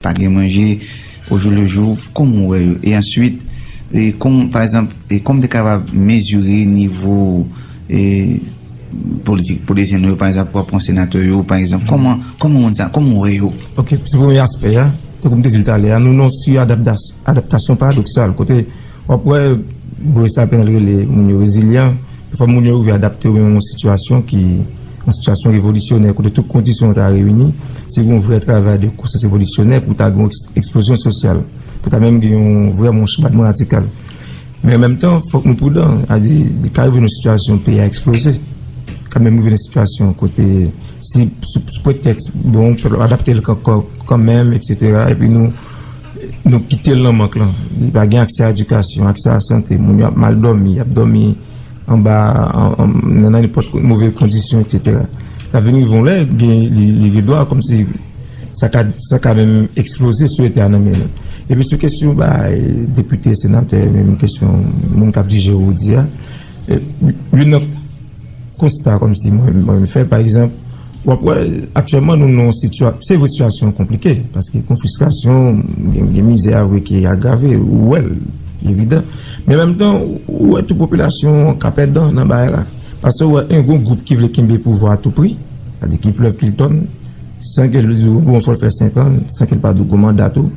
Pa gen manje au jour le jour kòman ou wè yo? E answit e kon pa egzanp e kòman te kapab mezire nivo e politik politisyen nou yo pa egzanp wap pran senatè yo pa egzanp kòman kòman moun sa kòman ou wè yo? Ok sou premye aspè a tankou m te di l talè a nou nan yon su adaptas adaptasyon paradoksal kote W ap wè Boris sa apenn al rele moun yo rezilyan, e fò moun yo rive adapte yo menm yon sitiyasyon ki yon sitiyasyon revolisyonè kote tout kondisyon ta reyini, si gen yon vrè travay de konsyans revolisyonè pou ta gen yon eksplozyon sosyal, pou ta menm gen yon vrè moun chabadman radikal. Men an menm tan, fòk nou prudan, a di li ka rive yon sitiyasyon peyi a eksploze, ka menm rive yon sitiyasyon kote si sou pretèks bon pèp la adapte l kanmenm, eksetera, epi nou. Nou kite l nan mank lan. Li pa gen aksè a edikasyon, aksè a sante. Moun yo ap mal dòmi, y ap dòmi anba, nan nenpòt move kondisyon, eksetera. L ap vin rive yon lè, li rive do a kòmsi sa ka, sa ka menm eksploze si yo te a nan men yo. Epi sou kesyon bagay depite, senatè, menm kesyon moun k ap dije ou di a, youn nan. konsta kòm si mwen menm fè pa egzanp w ap wè aktyèlman nou nan yon sitya se vre sitiyasyon an konplike paske kon fristrasyon gen mizè a vre ki agrave ou wè l ki evidan men menm tan ou wè tou popilasyon an ka pèdan nan bagay la paske ou wè en gon gwoup ki vle kenbe pouvwa a tou pri sa di ki plèv ki l tòn san ke l di w bon fò l fè senkan san ke l pa di w gwo manda tou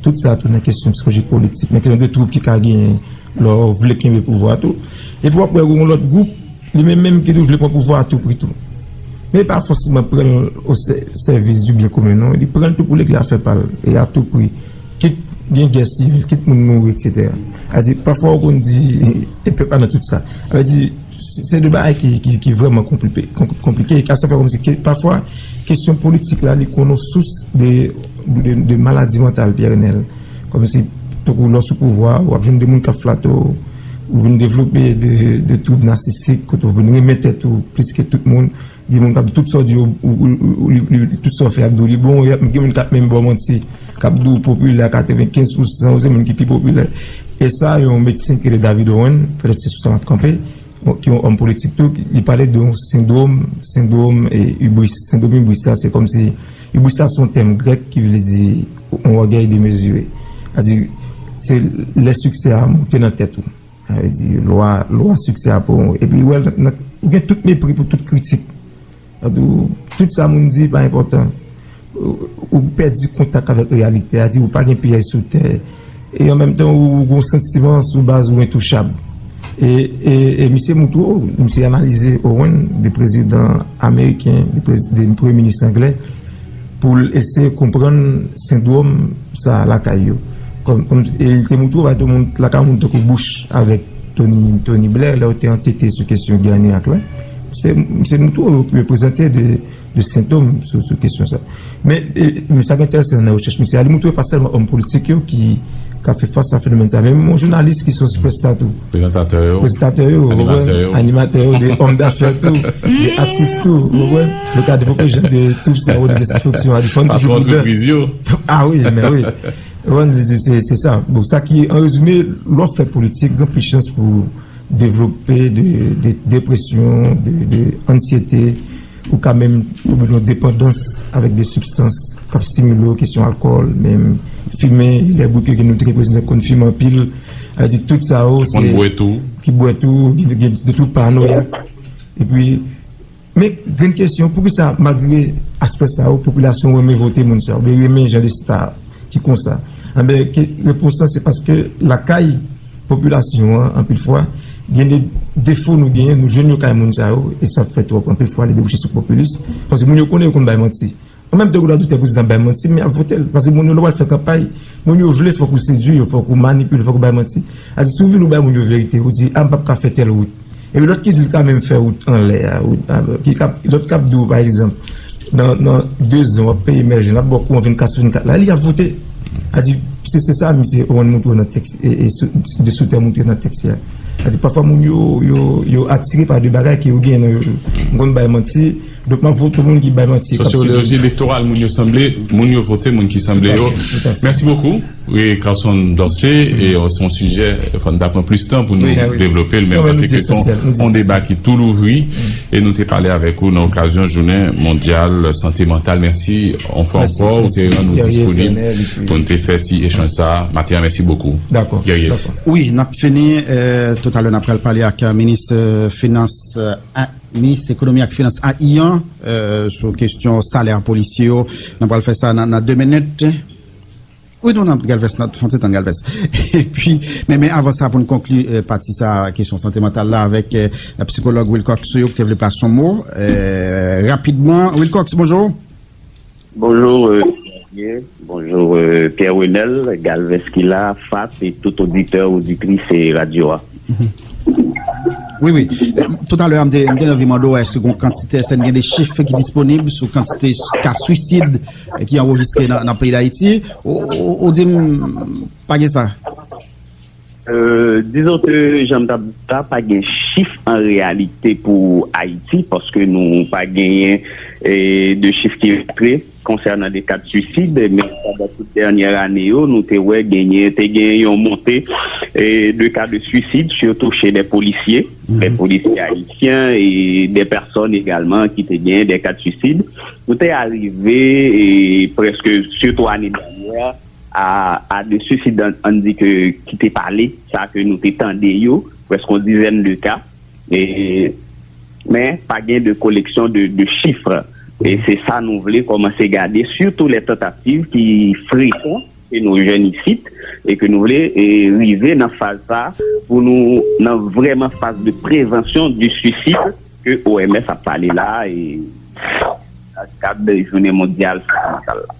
tout sa tou nan kesyon psikolojik politik nan kesyon de twoup ki ka genyen. Lè w vle kenbe pouvwa tou. Epi w ap wè gen yon lòt gwoup, li menm menm ki tou vle pran pouvwa a tou pri tou. Men li pa fòseman pran l o sèvis di byen komen non. Li pran l tou pou li k la fè pa l e a tou pri. Kit gen gè sivil, kit moun mouri, eksetera. Sa vle di, pafwa ou konn di, e pèp la nan tout sa. Sa vle di. Se de bagay ki vreman konplike e ka sa fè kòm si ke pafwa kesyon politik la li konon sous de maladi mantal Pierre Renel. Kòm si to kou lò sou pouvwa ou ap joun de moun ka flat ou ou vin devlope de toub nasisik kote ou vin renmen tèt ou plis ke tout moun. Gen moun k ap di tout sa w di yo, tout sa w fè y ap di w li bon. Gen moun k ap menm ba w manti, k ap di w popilè a 95 pou san yo se moun ki pi popilè. E sa yon medsen ki rele David Owen, pètèt se sou sa m ap kanpe, ki yon òm politik tou, li pale de yon sendwom, sendwom ibris. Sendwom ibris la se kòm si, ibris la se yon tèm grèk ki vle di yon ògèy demezire. A di, se lè siksè a monte nan tèt ou. Sa vle di lwa, lwa siksè a pou ou. Epi ou wè l nan, nan, ou gen tout mepri pou tout kritik. Sa vle di ou, tout sa moun di pa enpòtan. Ou pèdi kontak avèk reyalite a, di ou pa gen pyèj sou tè. E an menm tan ou gen yon santiman sou baz ou entouchab. E, e, e misye montre ou, misye analize Owen de prezidan ameriken, de prez, de premye minis anglè. pou l eseye konprann sendwòm sa a lakay yo. E li te montre w bagay lakay moun tankou Bush avèk Tony Blair lè yo te ankete sou kesyon gè ann Irak la. Se montre w yo prezante de sentòm sou kesyon sa a. Men sa ki entèresan nan rechèch misye a, li montre pa sèlman òm politik yo ki ka fè fas a fenomèn sa a, men menm yon jounalis ki se yon sipèsta tou. Prezantatè yo. Prezantatè yo, ou konprann? Animatè yo. Animatè yo, de òm dafè tou, de atis tou, ou konprann? Yo ka devlope jan de toub sèvo de desifonksyon a. Patwon antrepriz yo. A wi, men wi. Ou an li di se sa. Bon, sa ki an rezime, lò fè politik, gen plis chans pou devlope de depresyon, de ansyete, ou ka menm toube nan depandans avèk de sibstans kap stimile ou, kesyon alkòl, menm fimen, lè bouke gen nou te gen prezidan ki konn fimen anpil. A di tout sa ou se. Ki konn bwè tou. Ki bwè tou, gen de tout panoyak. E pi. Men, gen kesyon, poukisa malgre aspè sa yo, popilasyon renmen vote moun sa yo, oubyen renmen jan de star ki konsa? Anben, repons la se paske lakay popilasyon an, anpil fwa, gen de defo nou genyen, nou jwenn yo kay moun sa yo, e sa fè twòp anpil fwa li debouche sou popilis, paske moun yo konnen yo konn bay manti. An menm tan ou nan doute prezidan bay manti men yap votel paske moun yo lè wap fè kanpay moun yo vle fòk ou sedwi yo fòk ou manipile fòk ou bay manti ase si ou vin ou bay moun yo verite ou di a m pap ka fè tèl wout epi lòt ki di l ka menm fè wout anlè a wout anlè ki kap lòt kap di w pa egzanp nan nan dezan wap peye mèje lap ba w kouran 24 sou 24 la li ap vote a di se se sa misye ou ann montre w nan tèks e e sou de sou tè montre nan tèks ya a di pafwa moun yo yo yo atire pa de bagay ke yo gen nan yo m konn bay manti. Donk map vote moun ki bay manti. Sociologie electorale moun yo sanble moun yo vote moun ki sanble yo merci beaucoup wi Carson Dorcé e se yon sijè fò n ta pran plis tan pou nou devlope l men mwen panse ke se yon deba ki tou louvri e nou te pale avèk ou nan okazyon jounen mondyal sante mantal mèsi yon fwa ankò ou te rann ou disponib pou n te fè ti echanj sa a maten an mèsi bokou Guerrier. Wi nap fini toutalè nap pral pale ak minis finans. Minis ekonomi ak finans a Iyan sou kestyon salè polisye yo. Nan pral fè sa nan 2 minit. Wi nou nan galvès nan fon ti tan galvès epi men men avan sa pou nou konkli pati sa kesyon sante mantal la avèk psikològ Wilcox yo ki te vle plas son mo rapidman Wilcox bonjou. Bonjour Xavier, bonjour Pierre Renel, Galvez ki la, Fat et tout oditè, oditrice radyo a. Wi wi, tout alè a m te nan vi mande w eske gon kantite, eske n gen de chif ki disponib sou kantite ka swisid ki anrejistre nan peyi Dayiti, ou di m pa gen sa? Dizon ke janm tap di sa pa gen chif an reyalite pou Ayiti paske nou pa genyen de chif ki montre konsènan de ka de suicide men pandan tout dènyè ane yo nou te wè genyen te gen yon monte de ka de suicide sitou che de polisye, de polisye ayisyen e de pèsòn egalman ki te genyen de ka de suicide nou te arive preske sitou ane dènyè. a de suicide an di ke ki te pale sa ke nou te tande yo prèske yon dizèn de ka men pa gen de koleksyon de chifre e se sa nou vle kòmanse gade sitou lè tantativ ki frekon ke nou jèn isit e ke nou vle rive nan faz sa pou nou nan vreman faz de prevansyon de suicide ke OMS ap pale la e nan kad de jounen mondyal sante mantal la.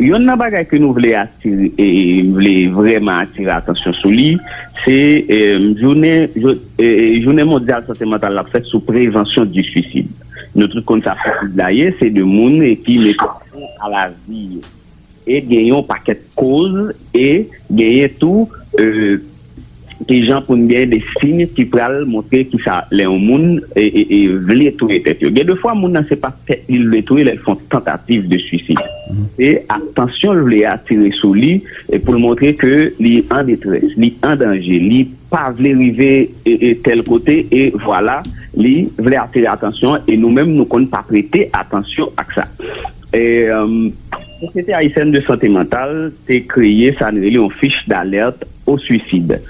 Yonn nan bagay ke nou vle atire, m vle vrèman atire atansyon sou li, se jounen jounen mondyal sante mantal la ap fèt sou prevansyon di swisid. Nou tout konn sa swisid la ye, se 2 moun ki mete fen a lavi yo. E gen yon pakèt koz e genyen tou. ki jan pou n gen de siy ki pral montre ki sa lè yon moun vle touye tèt yo. Gen de fwa moun nan se pa tèt li l vle touye lè l fè yon tantativ de swisid. Se atansyon l vle atire sou li pou l montre ke li an detrès, li an danje, li pa vle rive tèl kote e vwala li vle atire atansyon e nou menm nou konn pa prete atansyon ak sa. Sosyete Ayisyèn de Sante Mantal te kreye sa n rele yon fich d'alerte au suicide,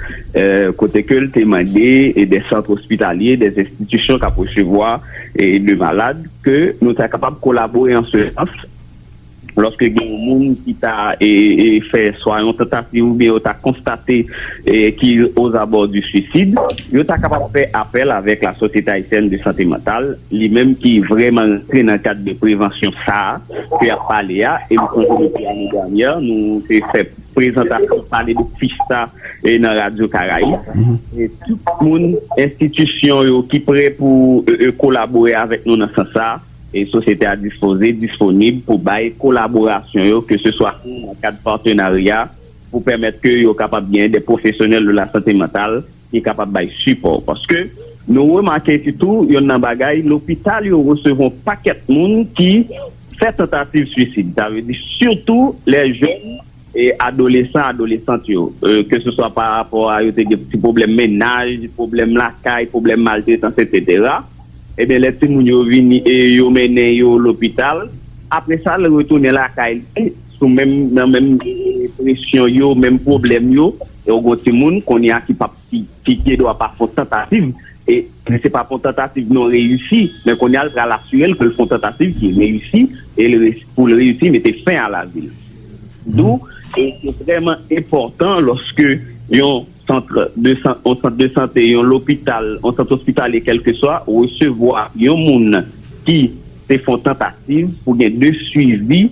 kote ke l te mande des centres hospitaliers, des institutions kap resevwa de malades ke nou ta kapab kolabore an se sans lòske gen yon moun ki ta fè swa yon tentative oubyen yo ta konstate ki aux abords du suicide, yo ta kapab fè apèl avèk la Société Haïtienne de Santé Mentale, li menm ki vrèman rantre nan kad de prevansyon sa ke yap pale a, e m sonje depi ane dènyè nou te fè. prezantasyon pale de fista nan Radyo Karayib. Tout moun, enstitisyon yo ki pre pou kolabore avèk nou nan sans sa, sosyete a dispoze, disponib pou bay kolaborasyon yo ke se swa nan kad patenarya pou pèmèt ke yo kapab gen de pwofesyonèl de lasante mantal ki kapab bay sipò. Paske nou remake sitou yonn nan bagay lopital yo resevwa yon pakèt moun ki fè tantativ swisid, sa vle di sitou lè jèn e adolesan, adolesant yo, ke se swa pa rapò a yo te gen ti pwoblèm mennaj, pwoblèm lakay, pwoblèm maltretans etsetera. Ebyen lè timoun yo vini e yo mennen yo lopital, apresa l retounen lakay li. sou menm nan menm presyon yo menm pwoblèm yo e ou gon timoun kounye a ki pap ki gen dwa pa fon tantativ e li se pa fon tantativ non reyisi men kounye a l pral asire l ke l fon tantativ ki reyisi e l pou l reyisi mete fen a lavi l dou e se vreman enpòtan lòske yon sant de san, yon sant de sante, yon lopital, yon sant ospitalye kèlkeswa resevwa yon moun ki te fon tantativ pou gen de swivi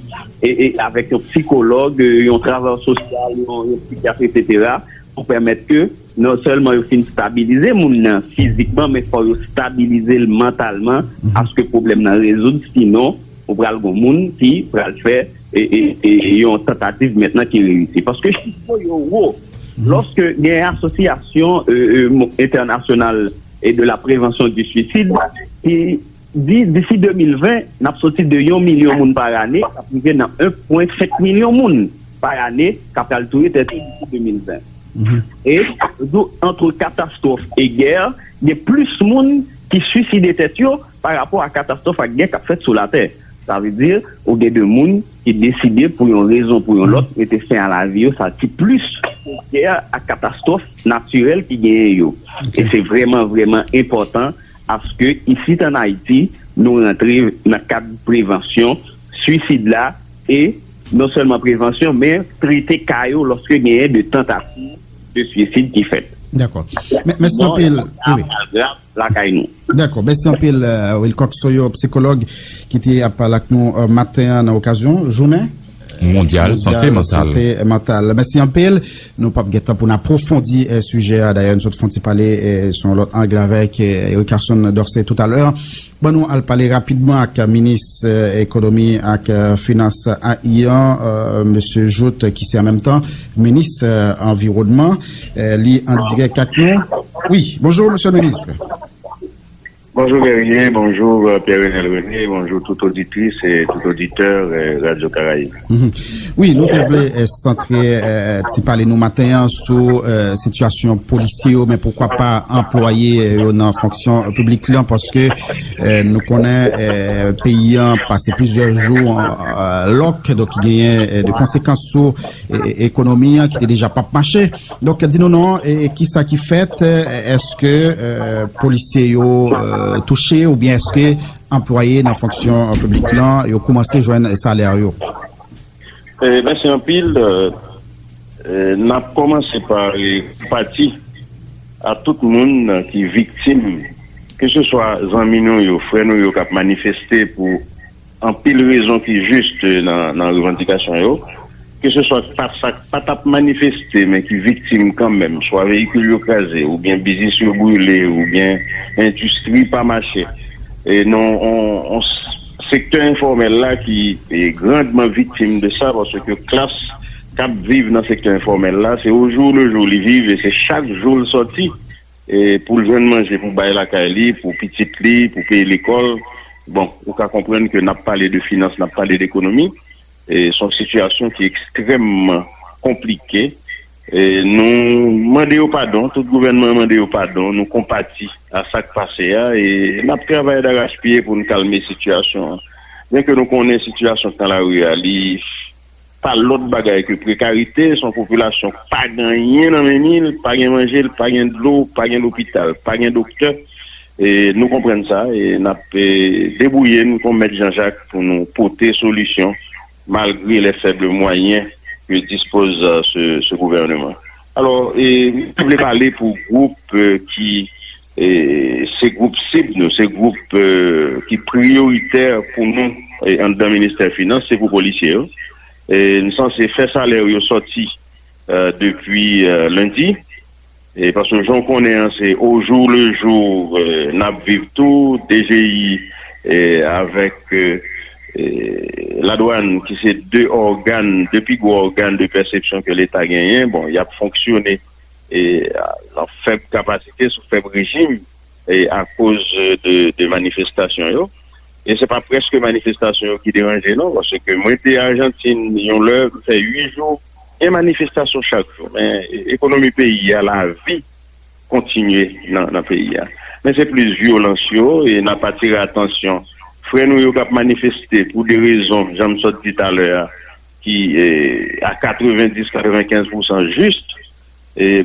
e avèk yon psikològ, yon travayè sosyal, yon psikyatri eksetera pou pèmèt ke non sèlman yo fin stabilize moun nan fizikman men fò yo stabilize l mantalman aske pwoblèm nan rezoud sinon ou pral gon moun ki pral fè. yon tantativ mentnan ki reyisi. Paske chif yo yo wo. Lòske gen asosyasyon entènasyonal e de la prevansyon di swisid ki di disi 2020 n ap soti de yon milyon moun pa ane k ap rive nan 1,5 milyon moun pa ane k ap pral touye tèt yo disi 2020. E yo di w antre katastwòf e gè gen plis moun ki swiside tèt yo pa rapò a katastwòf ak gè k ap fèt sou latè. Sa vle di, ou gen de moun ki deside pou yon rezon pou yon lòt mete fen a lavi yo, sa di plis pou gè ak katastwòf natirèl ki genyen yo. E se vrèman, vrèman enpòtan aske isit an Ayiti, nou rantre nan kad prevansyon swisid la e non sèlman prevansyon men trete ka yo lòske genyen de tantativ de swisid ki fèt. Dakò. Mèsi anpil. Sa grav, sa grav. lakay nou. Dakò, mèsi anpil Wilcox Toyo, psikològ ki te ap pale ak nou maten an nan okazyon jounen mondyal sante mantal. Mèsi anpil. Nou pap gen tan pou n apwofondi sijè a, dayè nou sot fon ti pale sou yon lòt ang avèk Eric Carson Dorcé toutalè. Ban nou al pale rapidman ak minis ekonomi ak finans ayian, Mesye Jouthe ki se an menm tan minis anviwònman. Li an dirèk ak nou. Wi, bonjou Monsye le Ministre. Bonjou Guerrier, bonjou Pierre Renel René, bonjou tout oditris e tout oditè Radio Caraïbe. Wi, nou te vle santre ti pale nou maten an sou sitiyasyon polisye yo men poukwa pa anplwaye yo nan fonksyon publik lan paske nou konnen peyi an pase plizyè jou lòk, donk genyen de konsekans sou. ekonomi an ki te deja pap mache. Donk, di nou non, ki sa ki fèt, eske polisye yo touche ou byen eske anplwaye nan fonksyon publik lan yo koumanse jwenn salè yo? Mwen se anpil, n ap koumanse pa pati a tout moun ki viktim, ke se swa zanmi nou yo, frè nou yo k ap manifeste pou. Anpil rezon ki juste nan revandikasyon yo. Ke se swa staf sa k pa t ap manifeste men ki viktim kanmenm, swa veyikil yo kraze oubyen biznis yo brile oubyen endistri pa mache e nan yon sektè enfòmèl la ki grandman viktim de sa paske klas k ap viv nan sektè enfòmèl la se ojou lejou li viv e se chak jou l sòti. Pou l jwenn manje pou bay lakay li, pou pitit li, pou peye lekòl. Bon, ou ka konprann ke n ap pale de finans, n ap pale de ekonomi. Se yon sitiyasyon ki ekstrèmman konplike. Nou mande yo padon, tout gouvènman an mande yo padon. Nou konpati a sa k pase a e n ap travay darachpye pou n kalme sitiyasyon an. Byenke nou konnen sitiyasyon k nan lari a li. Pa lòt bagay ke prekarite, son popilasyon k pa gen anyen nan men ni, l pa gen manje, l pa gen dlo, pa gen lopital, pa gen doktè. Nou konprann sa e n ap debwouye n kon mèt janjak pou nou pote solisyon malgre lè fèble mwayen ke dispoz se gouvèneman. Alò, m pa vle pale pou gwoup ki. Se gwoup sib nou, se gwoup ki priyoritè pou nou anndan ministè finans, se pou polisye yo. Nou sanse fè salè yo sòti depi lendi, paske jan w konnen an se o jou le jou n ap viv tou, DGI avèk ladwàn ki se 2 ògàn, 2 pi gwo ògàn de pèsepsyon ke leta genyen, bon y ap fonksyone. nan fèb kapasite, sou fèb rejim akoz de manifestasyon yo. E se pa prèske manifestasyon yo ki deranje non, pase ke mwen te Ajantin yon lè, mwen fè 8 jou, gen manifestasyon chak jou, men ekonomi peyi a, la vi kontinye nan peyi a. Men se plis vyolans yo, e nan pa tire atansyon frè nou yo kap manifeste pou de rezon, janm sot di talè a, ki a 90, 95 pousan jis,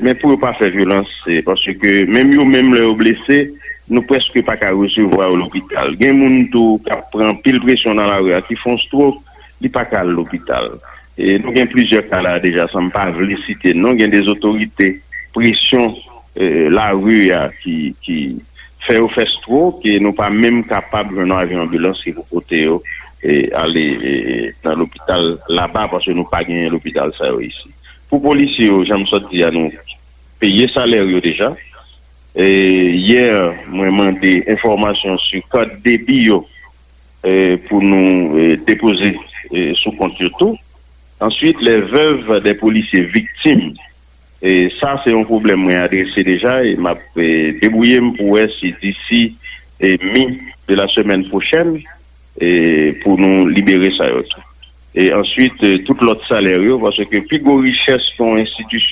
men pou yo pa fè vyolans, se paske ke menm yo menm lè yo blese, nou preske pa ka resevwa yo lopital. Gen moun tou k ap pran anpil presyon nan lari a, ki fon strok, li pa ka al lopital. Nou gen plizyè ka la a deja, san m pa vle site non, gen de otorite, presyon lari a ki fè yo fè strok, e nou pa menm kapab jwenn yon avyon anbilans ki pou pote yo. ale nan lopital laba paske nou pa genyen lopital sa yo isi. Pou polisye yo jan m sot di a nou peye salè yo deja. Yè mwen mande enfòmasyon sou kat debi yo pou nou depoze sou kont yo tou. Answit lè vèv de polisye viktim Sa se yon pwoblèm mwen adrese deja e m ap debwouye m pou wè si disi mi de la semèn pwochèn pou nou libere sa yo tou. E answit tout lòt salè yo paske pi gwo richès yon enstitisyon.